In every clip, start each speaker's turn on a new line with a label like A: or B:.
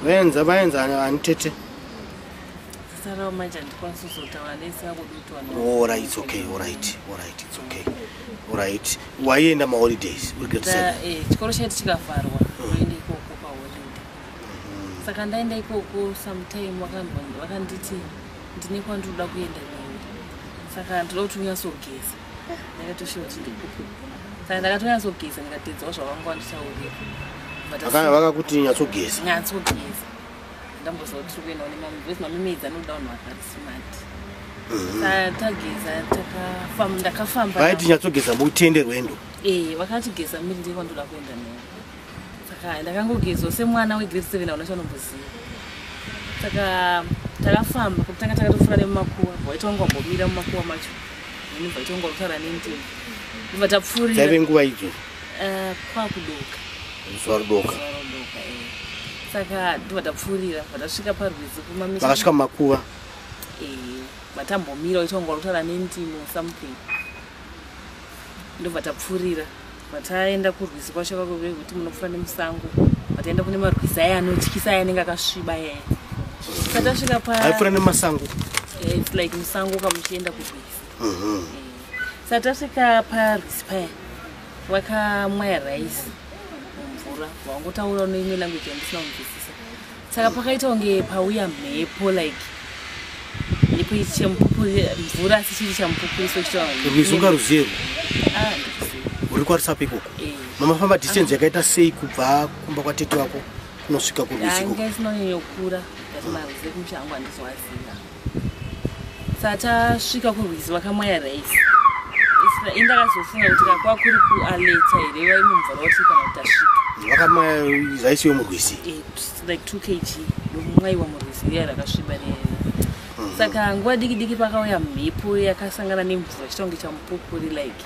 A: vaenza vaenza ani tete
B: sarawo manje handikwanisi kuzotaura nese akudutwaora its okay
A: orit orit its okay orit waienda maholidays eh, chikoro chaiti chikavharwa
B: oenda mm. ikoko paholiday mm-hmm. saka ndaenda ikoko sometime vakanditi ndine kwandinoda kuenda neni saka ndinoda kuti unyatsogeza ndakatoshuwa chidikuku saka ndakatonyasogeza ndikatedzawo zvavanga wanditaurira vakakuti
A: nyatsogeza nyatsogeza
B: ndamboziva kuti tiri kuendawo nemamwe because mamimedzi anoda vanhu vakari smart mhm. tageza ndakafamba vaiti nyatsogeza
A: mutende rwendo ee eh, vakatigeza
B: miri ndekwandoda kuenda navo saka ndakangogezwa semwana wegrade seven hauna chanomboziva saka takafamba kutanga takatofura nemumakuwa vaita wangu wambomira mumakuwa macho ini vaita wangu wakutaura nendimi ndibva tapfuriraive nguva idzo
A: eh, kwakudoka
B: zuva
A: rudoka eh. saka
B: ndibva tapfuurira vatasvika parwizi kumaakasvika mumakuva
A: eh, vatambomira
B: vaita wangu wakutaura nendimi something ndobva tapfuurira vataenda kurwizi kwacho vakuve kuti munofa nemusango vataenda kune marwizi aya anotyisa aya anenge akasviba yaya satasvika paaifura nemasango
A: eh, its like
B: musango kamuchienda kurwizi mhm. satasvika parwizi paya wakamwaya raisi mumvura wangotaura unoimwe language yandisina kunzwisisa saka pakaita kunge pauya mhepo like mhepo mvura asi chiri chamupupuriso chitaurunga ruzero
A: ah, uri kwarisapo ikoko eh. mamafamba distance ah. yakaita sei kubva kumba kwatete wako kunosvika kuruziko
B: ah, satasvika kurwizi vakamwaya raisi indakazofunga kuti kakwa kuri kualeta here vaive mumvura wati kana kuti asvika vakamwaya raisi
A: yomurwizi eh, like two
B: kg ndomumwaiwa murwizi riya rakasviba riya mhm. saka nguva diki diki pakauya mhepo yakasangana nemvura chitonge chamupupuri like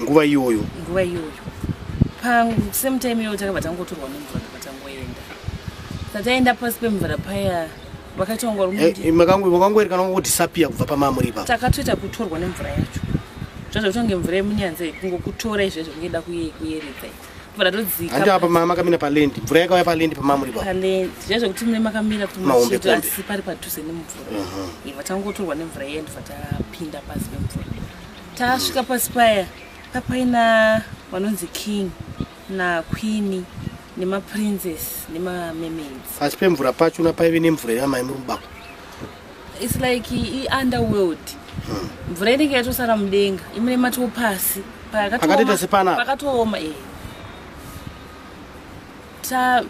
B: nguva iyoyo
A: nguva iyoyo pasame
B: time iyoyo takabva tangotorwa nemvura ndakatanga kuenda sataenda pasi pemvura paya vakaita kunge uri Eh, makangu- makangoerekana
A: kungodisappear kubva pamamuri ipapo takatoita kutorwa nemvura
B: yacho zvazvakuita kunge mvura yemunyanza iyi kungokutora izvezvo kungeda kuyeredza kubva ndatodzika hanti apa mama akamira
A: palendi mvura yakauya palendi pamamuri ipapo palendi zvazvo kuti mune
B: makamira kuti Mahombe mucheto kombe. asi pari padhuze nemvura iva tangotorwa nemvura iya ndibva tapinda pasi pemvura tasvika pasi paya papaina vanonzi king nakwini nemaprinces nemamemaids asi pemvura pacho na
A: paive nemvura yamai muri mubako its
B: like iunderworld hmm. mvura inenge yatosara mudenga imune matoo pasi pakatooma
A: eh.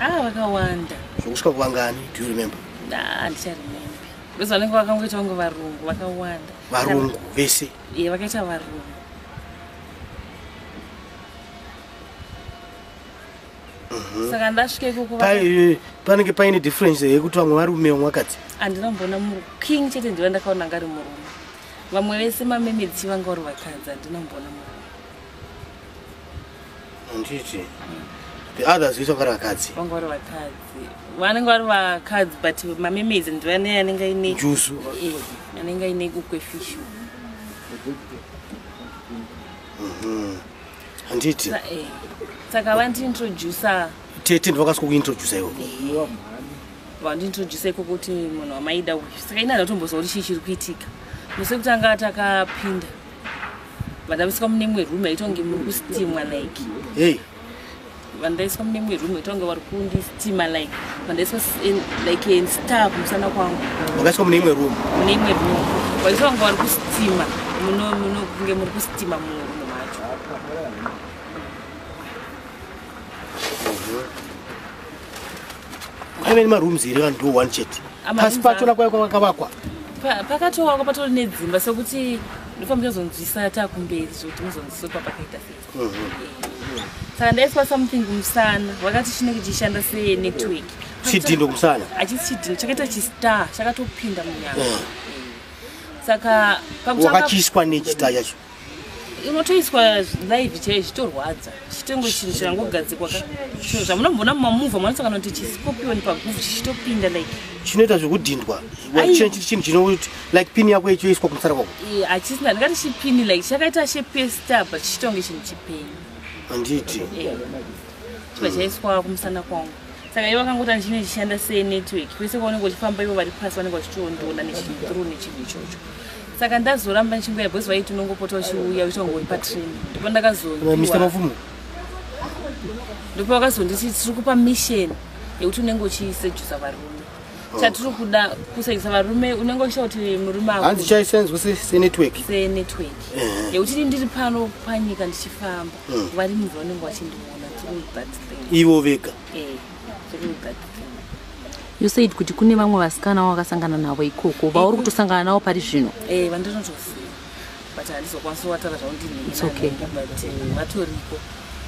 A: Ah, vakawanda.
B: Zvokusvika
A: kuvangani? Do you remember? Nah, ndicharemembe.
B: Because vanenge vakangoita vangu varungu vakawanda. Varungu vese?
A: Yeah, vakaita varungu.
B: Mhm. saka ndasvika ikoko eh, panenge
A: paine difference yekuti vamwe varume vamwe vakadzi handina kumboona
B: muking chete ndiva ndakaona ngari murume vamwe vese mamemedzi vanga vari vakadzi handina kumboona murume
A: handiti the others vese vakari vakadzi vanga vari vakadzi
B: vanenge vari vakadzi but mamemezi ndivane anenge aine jusu eh,
A: anenge
B: aine kukwe fishu mhm.
A: handiti eh, saka
B: vandiintroducer tete ndivakasi
A: kukuintroducer iwo eh, vandiintroducer
B: iko kuti munhu wamaida uyu saka ina ndatombozva kuti chii chiri kuitika musi kutanga takapinda vandaiswa mune imwe room yaitonge muri kustimwa like hey
A: vandaiswa
B: mune imwe room yaitonge vari kundistima like vandaiswa like in star kumusana kwangu vakaiswa mune imwe room
A: mune imwe room
B: vaitonge vari kustima muno muno kunge muri kustima muno macho
A: kwaive nemarooms here vanhu ndo one chet pasi pacho nakwaikwakavakwa pakatoakwa
B: patori nedzimba sekuti ndofa muchazonzwisa takumberi zvekuti muzonzwisa kuti papakaita sei mhm. saka ndaiswa something kumusana vakati chine kuchishanda senetwork chidhindo
A: kusana achisi chidhindo chakaita
B: chistar chakatopinda munyama mhm. saka pakuvakachiswa
A: nechita chacho unotoiswa
B: live chaiyo zvitorwadza chitengo chinhu chirangogadzikwa ka chinhu zvamunomboona mumamuvha mwanosangana kuti chisikopioni paguvhu chichitopinda like chinoita zvekudhindwa
A: chinhu chinoti like pini yako ichoiswa kumusara kwako hachisina ndingati
B: chipini like chakaita shepesta but chitonge chinhu chipeni handiti chiva chaiswa kumusana kwangu saka ivo vakangoti andichine chichishanda senetwork kwese kwaunenge uchifamba ivo vari pasi vanenge vachitoondoona nechinhu tru nechinhu ichocho saka ndazoramba ndichimbuya because vaiti unongopota uchiuya uchitongori patrain ndipo ndakazomistermavumo ndipo vakazonditi tiri kupa mission yekuti unenge uchisejusa varume oh. chatiri kuda kusejusa varume unenge uchita kuti murume ahanzi chaisenzwa
A: senetwork senetwork eh.
B: yekuti ndiri pano panyika ndichifamba hmm. vari munhu vanenge vachindiona through that thing ivo vega
A: eh.
B: you said
C: kuti kune vamwe vasikana wo wakasangana navo ikoko vauri kutosangana navo pari zvino eh, vandinotoziva
B: but handizokwanisa kuvatara zvaundinheiokay
C: but eh, vatoriko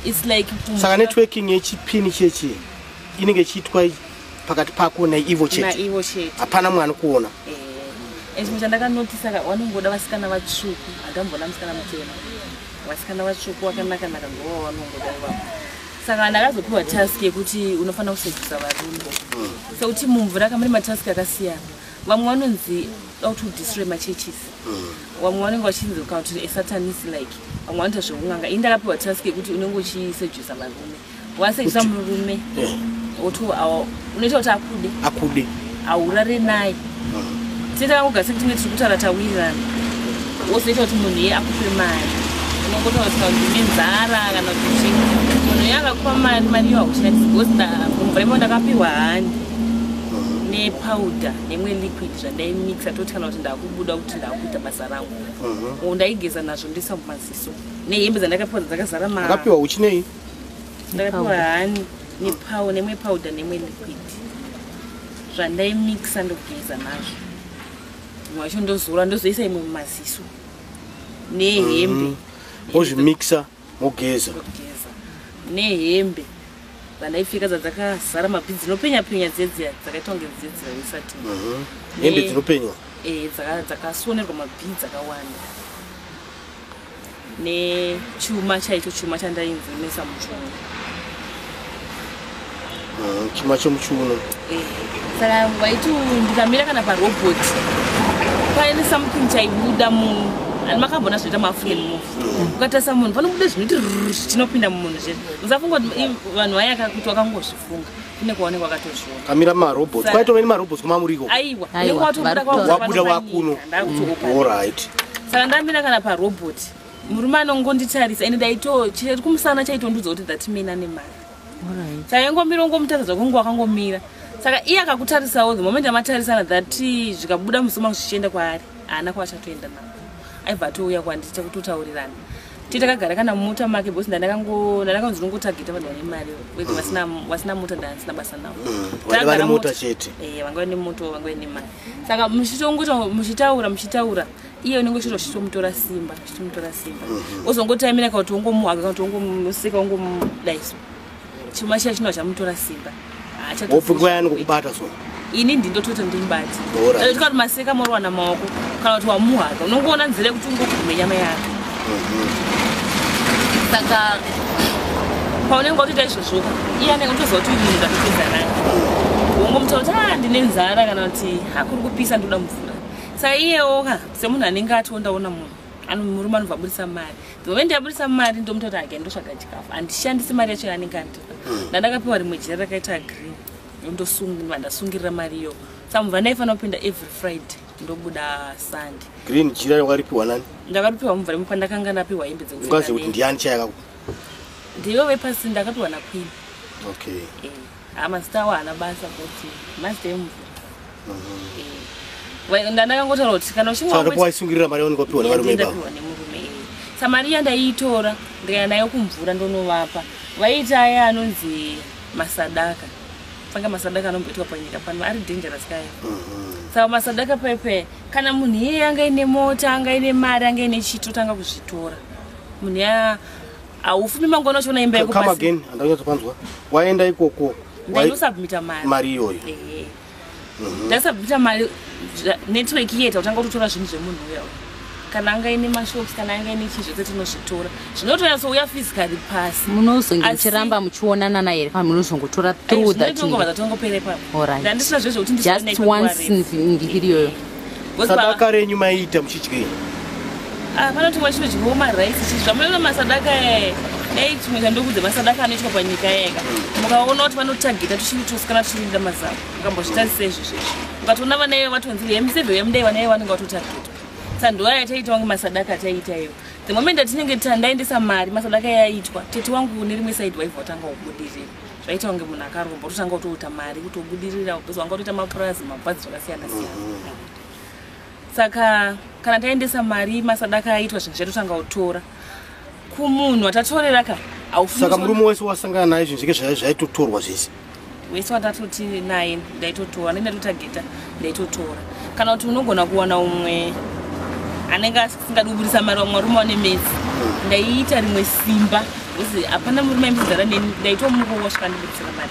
B: its like saka networking
A: yechipini chechi inenge ichiitwa pakati pako naivo chete hapana mwana kuona eh, chimwe
B: chandakanotisa ka vanongoda vasikana vatsvuku handamboda musikana mutema vasikana vatsvuku vakanakanaka ngovavanongoda ivavo saka ndakazopiwa task yekuti unofanira kusevisa varume mm. sekuti mumvura kamuri matask akasiyana vamwe vanonzi da kuti udistroy machurches mm. vamwe vanenge vachinzi kuti esatanis like vamwe vanoita zvekun'anga ini ndakapiwa task yekuti unenge uchisejusa varume wasejisa murume otoawa unoita kuti akude akude haurare naye tinoita kangogasi kutinge tiri kutaura tawirirana wozoita kuti munhu iye akupe mari unongotaura kuti kana kuti nenzara kana kuti chii munhu iye akakupa mari mari iyo haushandisi because mumvura imo ndakapiwa hani nepowder nemwe liquid zvandaimixa toti kana kuti ndakubuda kuti ndakuita basa rangu mhm. ndaigeza nazvo ndoisa mumaziso nehembe dzandakapiwa dzakazaramaapiwa uchinei
A: ndakapiwa
B: hani nepow nemwe powder nemwe liquid zvandaimixa ndogeza nazvo imwe wacho ndozora ndozoisa imwe mumaziso nehembe mm.
A: ozvimixa mogeza
B: nehembe vandaipfeka dzadzakazara mabhi dzinopenya penya dzedzia dzakaitwa kunge dzedzia isati mhm. hembe
A: dzinopenywa eh, dzakasonerwa
B: mabhi dzakawanda nechuma chaicho chuma chandainzimesa muchiuno
A: mm, chuma chomuchiuno eh, saka
B: waiti ndikamira kana parobot paine something chaibuda munhu and makambona zvoita maafrican move mm. ukatarisa munhu panobuda zvinoti zvinopinda mumunhu zve usafunga kuti vanhu vayaka kuti wakangozvifunga kune kwaone kwakatozviona kamira marobots
A: kwaitove nemarobots kumamuriko aiwa
B: wabuda
A: wakuno orit saka ndamira
B: kana parobot murume anongonditarisa ende daito chiri kumusana chaitondudza kuti that man ane mari chaingomira ungomutaridza kunge wakangomira saka iye akakutarisawo the moment amatarisana that zvikabuda musoma zvichienda kwaari haana kwachatoenda navo aibva atouya kwanditi chakutotaurirana ti takagara kana mumota make because ndandakanzi ndongotageta vanhu vane mari wete vasina mota ndandisina basa navo
A: mm, vangava nemoto eh,
B: vangava nemari saka muchitongoita muchitaura muchitaura iye unenge uchito chitomutora simba chitomutora simba mhm. ozongotaimira ka kuti ongomuhaga ka kuti ongomuseka ongomudaiso chuma chiya chinova chamutora simba wopingwa yani
A: kukubata so ini ndindotoita
B: ndimubati tikati maseka moriwana maoko kana kuti wamuhaka unongoona nzira yekuti ungogume nyama yake mhm. saka paunenge watoita izvozvoka iye anenge utoziva kuti uyu munhu ndatopedza naye wongomutaura kuti a ah, ndine nzara kana kuti hakuri kupisa ndoda mvura saka iyewoka semunhu anenge ationdaona munhu murume anobva aburitsa mari ndove ndiaburitsa mari ndomutoti again ndosvaga chikafu handishandisi mari yacho yaanenge andipa hmm. ndandakapiwa rimwe jira rakaita green ndosungwa ndasungirira mari iyo sa mubva ndaifanira kupinda every friday ndobuda sunday green jira yakaripiwa
A: nani ndakaripiwa mubva rimwe
B: pandakanga ndapiwa hembe dzekuti ndiani
A: chayakakupa ndiyo
B: vepasi ndakapiwa nakwini okay
A: yeah. Ah, mazita
B: awo haana basa kuti mazita emvura Eh, wa- ndandakangotaura kuti kana uchinge saka ndipo waisungirira mari yaunenge
A: wapiwa nevarume ivavo ndapiwa nemurume
B: iyi sa mari iya ndaiitora ndikaenda nayo kumvura ndonovapa vaiita aya anonzi masadaka panga masadaka anomboitwa panyika pano ari dangerous kaya saka masadaka pepe kana munhu iye anga ine mota anga ine mari anga ine chito tanga kuzvitora munhu ya haufumi
A: mangu anochiona
B: imba yako
A: come again
B: handanyatso
A: panzwa
B: waenda
A: ikoko
B: ndaisubmita mari mari iyoyo mhm. ndaisubmita mari network iye tautanga kutotora zvinhu zvemunhu uya kana anga ine mashops kana anga ine chii zvese tinozvitora zvinotonyaso uya physically pasi munozonge muchiramba
C: muchionana naye kana munozongotora through thatngova zvatongopere papo
B: ndandisina zvezvekuti just once
C: mviri iyoyo sadaka
A: renyu maiita muchidyei ah,
B: panoti wa chinodyiwa marice chii zvamunoona masadaka yaye dai chimwe chandokudza masadaka anoitwa panyika yayeka mukaona kuti vanotageta tuchinge tosikana tuchirinda mazavo mukambozvitarisa izvi zvezvi ukatoona vana ivo vatonzi hemiseve yemudai vana ivo vanenge vatotageta sanduwa yataiita wange masadaka ataiita ivo the moment atinenge tandaendesa mari masadaka yaitwa tete wangu nerimwe side waiva watanga kubudirira zvaita kunge munhu akaromba ototanga kutoita mari kuti obudirira because wanga utoita mapurazi mabhazi zvakasiyana siyana mm-hmm. saka kana taendesa mari masadaka aitwa zvinhu zvatotanga kutora kumunhu atatorera ka saka murume wese
A: wasangana naye zvinhu zvike zvaitotorwa zvese wese watatoti
B: naye ndaitotora nendatotargeta ndaitotora kana kuti unogona kuwana umwe anenge singadi kubudisa mari vamwe varume vane mesi ndaiita rimwe simba hapana murume aimbodzara neni ndaitomurowa svikandibudisira mari